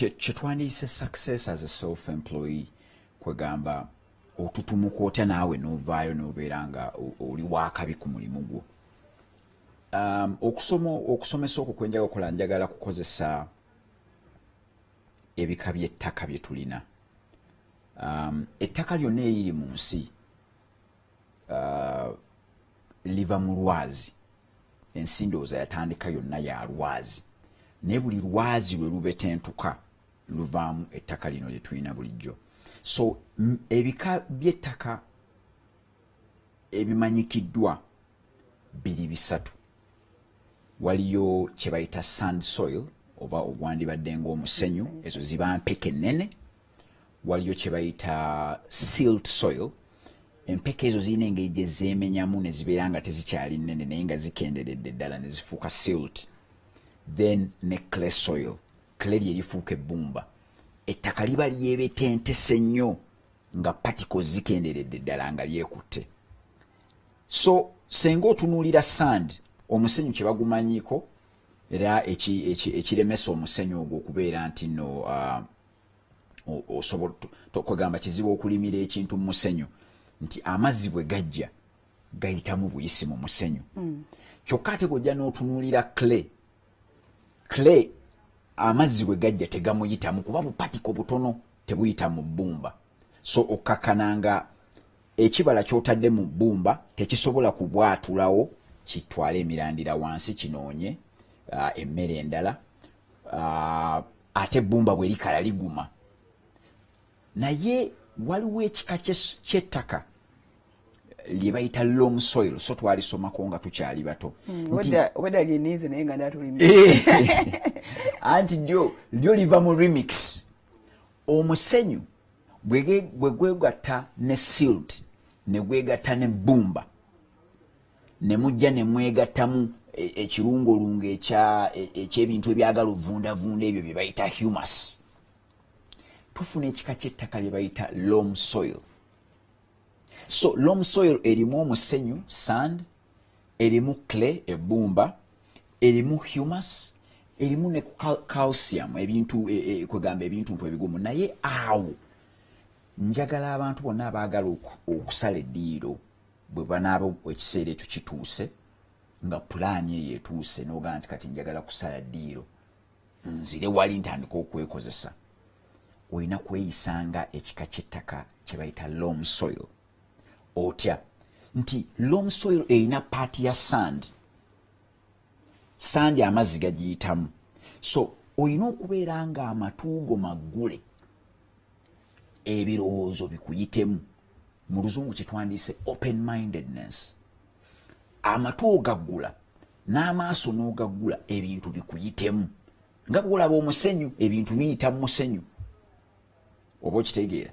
kyetwandiyise success as a self employee kwegamba otutumuka otya naawe novaayo nobeera nga oli wakabi ku mulimu gwo um, okusoma okusomesa okwo kwenjaga okola njagala kukozesa ebika byettaka byetulina um, ettaka lyonna eriri mu nsi uh, liva mu lwazi ensi ndowooza yatandika yonna ya lwazi naye buli lwazi lwe lubetentuka luvaamu ettaka lino lye tulina bulijjo so ebika by'ettaka ebimanyikiddwa biri bisatu waliyo kyebayita sand soil oba ogwandibadde ngaomusenyu ezo ziba mpeke ennene waliyo kyebayita silt soil empeke ezo zirina engeri gye zeemenyamu ne zibeera nga tezikyali nnene naye nga zikenderedde ddala ne zifuuka silt then ne clay soil clay lye lifuuka ebbumba ettaka liba lyebetentese nnyo nga paticles zikenderedde ddala nga lyekutte so senga otunuulira sand omusenyu kye bagumanyiko era ekiremesa omusenyu ogwo okubeera nti no uh, osobola kwegamba kizibu okulimira ekintu mu musenyu nti amazzi bwe gajja gayitamu buyisi mu musenyu mm. kyokka ate bwojja n'otunuulira clay clay amazzi bwe gajja tegamuyitamu kuba bupatiko butono tebuyita mu bbumba so okkakkana nga ekibala kyotadde mu bbumba tekisobola kubwatulawo kitwale emirandira wansi kinoonye uh, emmere endala uh, ate ebbumba bwe likala liguma naye waliwo ekika kyettaka lye bayita lom soil so twalisomako nga tukyali bato hmm, eh. anti lyo lyo liva mu remix omusenyu bwe gwegatta ne silt ne gwegatta ne bumba ne mujja ne mwegattamu e, ekirungolungo e, ekyebintu ebyagala ovundavunda ebyo bye bayita humus tufuna ekika ky'ettaka lye bayita lom soil so lom soil erimu omusenyu sand erimu clay ebbumba erimu humus erimu ne calcium ebintu e, e, kwegamba ebintu ntu ebigumu naye awo njagala abantu bonna abaagala okusala eddiiro bwe banaaba ekiseera ekyo kituuse nga pulaani eyo etuuse n'ogaa nti kati njagala kusala ddiiro nzire wali ntandika okwekozesa olina kweyisa nga ekika ky'ettaka kye bayita lom soil otya nti lom soil erina paati ya sand sandi amazzi gagiyitamu so olina okubeera nga amatuugo maggule ebirowoozo bikuyitemu mu luzungu kyetwandiise open mindedness amatu ogaggula n'amaaso n'ogaggula ebintu bikuyitemu nga bwolaba omusenyu ebintu biyita mu musenyu oba okitegeera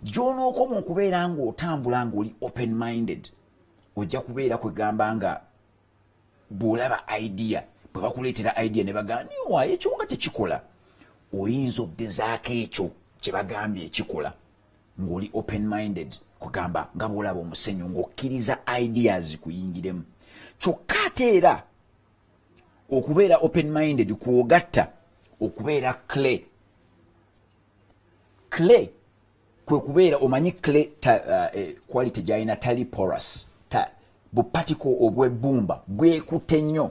gyonookoma okubeera ng'otambula ng'oli open minded ojja kubeera kwegamba nga bwolaba idea bwe bakuleetera idea ne bagamba niwa ekyo nga tekikola oyinza okugezaako ekyo kye bagambye ekikola ng'oli open minded kugamba nga bwolaba omusenyu ng'okkiriza ideas kuyingiremu kyokka ate era okubeera open minded kwogatta okubeera clay clay kwe kubeera omanyi clay ta, uh, eh, quality gyalina tali porous ta, bupatiko obwebbumba bwekute nnyo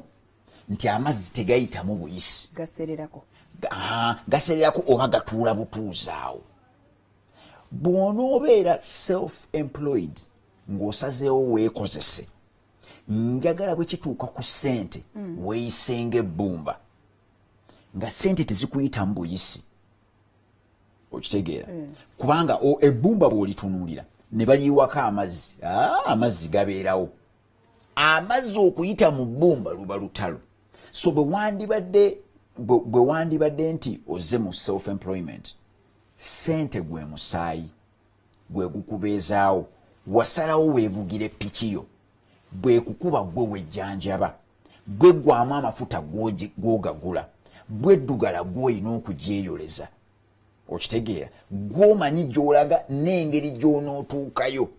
nti amazzi tegayitamu buyisi gasererako oba gatuula butuuzaawo bw'onoobeera self employed ng'osazeewo weekozese njagala bwe kituuka ku ssente mm. weeyisenga ebbumba nga ssente tezikuyita mu buyisi okitegeera mm. kubanga ebbumba bw'olitunuulira ne baliyiwako amazzi ah, amazzi gabeerawo amazzi okuyita mu bbumba luba lutalo so bwe wandibadde bwe wandibadde nti oze mu self employment sente gwe musaayi gwe gukubeezaawo wasalawo weevugire piki yo bwekukuba gwe wejjanjaba gwe gwamu amafuta gwogagula bwe ddugala gwolina okugyeyoleza okitegeera gwomanyi gyolaga n'engeri gy'onootuukayo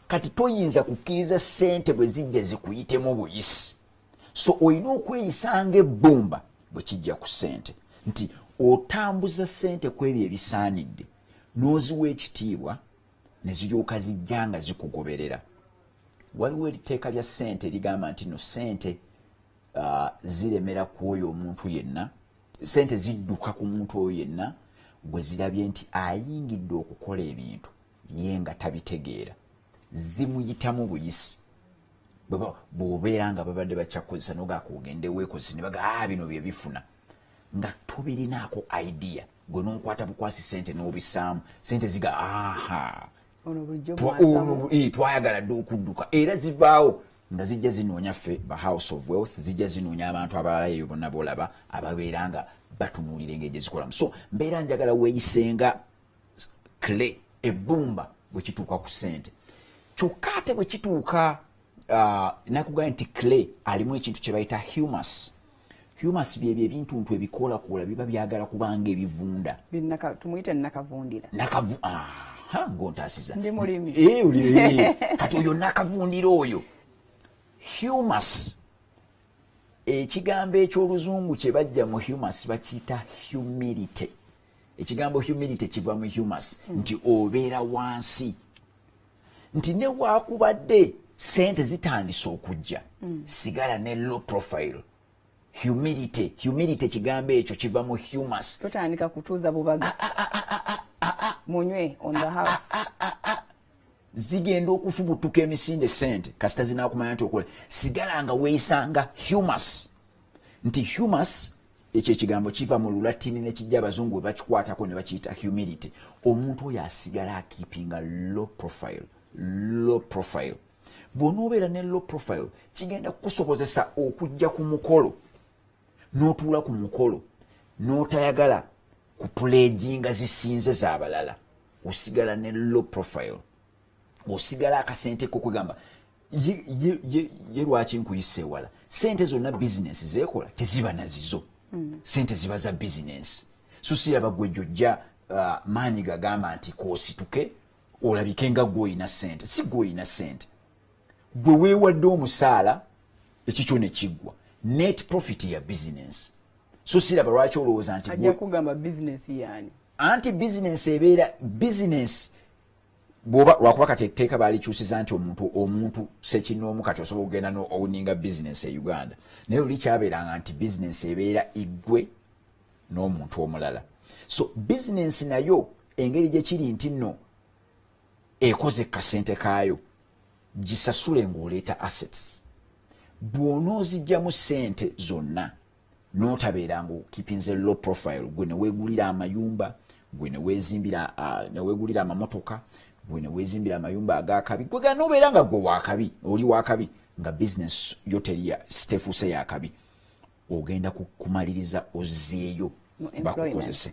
kati toyinza kukkiriza sente bwe zijja zikuyitemu buyisi so olina okweyisanga ebbumba bwe kijja ku sente nti otambuza sente ku ebyo ebisaanidde n'oziwa ekitiibwa ne ziryoka zijja nga zikugoberera waliwo eriteeka lya sente erigamba nti no sente uh, ziremera ku oyo omuntu yenna sente zidduka ku muntu oyo yenna gwe zirabye nti ayingidde okukola ebintu ye nga tabitegeera zimuyitamu buyisi bwobeera nga babadde bakyakukozesa nogakuogende weekozesa nebaga a ah, bino byebifuna nga tobirinaako idea gwe nokwata bukwasi sente nobisaamu sente ziga aha eh, twayagala dde okudduka era zivaawo nga zijja zinoonya ffe ba house of wealth zijja zinoonya abantu abalala eyo bonna bolaba ababeera nga batunuulira engeri gyezikolamu so mbeera njagala weeyisenga clay ebbumba bwe kituuka ku ssente kyokka ate bwe kituuka uh, nakugambye nti clay alimu ekintu kye bayita humus humus byebyo ebintuntu ebikoolakoola biba byagala kubanga ebivunda tumuyite nakavundira nakavu aha ngaontasiza ndi mulimi eh, eh, eh. kati oyo nakavundira oyo humus ekigambo eky'oluzungu kye bajja mu humus bakiyita humility ekigambo humility kiva mu humus hmm. nti obeera wansi nti newakubadde sente zitandise okujja hmm. sigala ne low profile humility humility ekigambo ekyo kiva mu humus totandika kutuuza bubaga ah, ah, ah, munywe on the house zigenda okufubutuka emisinde sente kasita zinakumanya nti okola sigala nga weisanga humus nti humus ekyo ekigambo kiva mu lulatini nekijja abazungu webakikwatako ne bakiyita humility omuntu oyo asigala akipinga low profile low profile bwonoobeera ne low profile kigenda kukusobozesa okujja ku mukolo notuula ku mukolo notayagala ku puleegi nga zisinze zabalala osigala ne low profile osigala akasente kokwegamba ye lwaki nkuyisa ewala sente zonna bizinensi zekola teziba nazizo mm. sente ziba za bizinensi so siraba gwe jojja uh, maanyi gagamba nti kosituke olabike nga gwoyina sente si gwoyina sente gwe weewadde omusaala ekikyo ne kiggwa net profit ya bizinensi so siraba lwaki olowooza nti ajja kugamba bizinensi yaani anti bizinensi ebeera bizinensi bwoba lwakuba kati etteeka baalikyusiza nti omuntu omuntu sekinoomu kati osobola okugenda nowuninga bizinensi e uganda naye oli kyabeeranga nti bizinensi ebeera iggwe n'omuntu omulala so bizinensi nayo engeri gye kiri nti nno ekoze kasente kaayo gisasule ng'oleeta assets bw'onoozijjamu ssente zonna n'otabeera ng'okipinze low profile gwe ne weegulira amayumba gwe ne weezimbira ne weegulira amamotoka gwe ne weezimbira amayumba ag'akabi gwe gana obeera nga gwe wakabi oli wakabi nga bizinesi yo teriya sitefuuse yakabi ogenda kumaliriza ozzeeyo bakukozese